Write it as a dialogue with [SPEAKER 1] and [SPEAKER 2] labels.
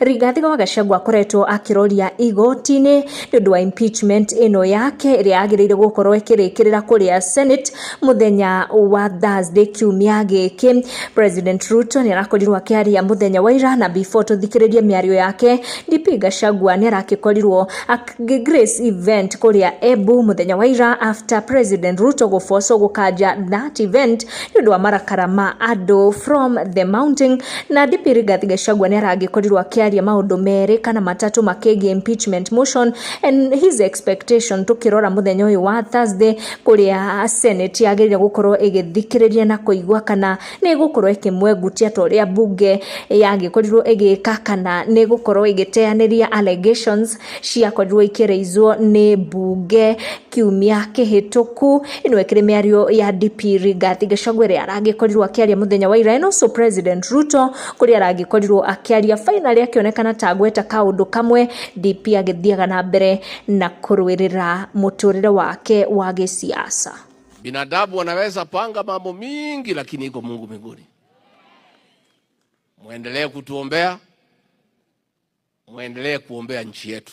[SPEAKER 1] Rigathi wa Gachagua akoretwo akĩroria igoti-inĩ nĩ ũndũ wa impeachment ĩno yake ĩrĩa yagĩrĩire gũkorwo ĩkĩrĩkĩrĩra kũrĩa Senate mũthenya wa Thursday kiumia gĩkĩ. President Ruto nĩ arakorirwo akĩaria mũthenya wa ira na before tũthikĩrĩrie mĩario yake, DP Gachagua nĩ aragĩkorirwo akĩ grace event kũrĩa Embu mũthenya wa ira after President Ruto gũbocwo gũkanja that event nĩ ũndũ wa marakara ma andũ from the mountain na DP Rigathi Gachagua nĩ arangĩkorirwo akĩaria maũndũ merĩ kana matatũ makĩgiĩ impeachment motion and his expectation tũkĩrora mũthenya ũyũ wa Thursday kũrĩa Senate yagĩrĩire gũkorwo ĩgĩthikĩrĩria na kũigua kana nĩ ĩgũkorwo ĩkĩmwengutia ta ũrĩa bunge yagĩkorirwo ĩgĩka kana nĩ ĩgũkorwo ĩgĩteanĩria allegations ciakorirwo ikĩraizwo nĩ bunge kiumia kĩhĩtũku ĩno ĩkĩrĩ mĩario ya DP Rigathi Gachagua ĩrĩa aragĩkorirwo akĩaria mũthenya wa ira and also President Ruto kũrĩa aragĩkorirwo akĩaria finally akĩonekana ta agweta kaũndũ kamwe DP agĩthiaga na mbere na kũrũĩrĩra mũtũrĩre wake wa gĩsiasa. Binadamu
[SPEAKER 2] wanaweza panga mambo mingi, lakini iko Mungu mbinguni. Mwendelee kutuombea, mwendelee kuombea nchi yetu.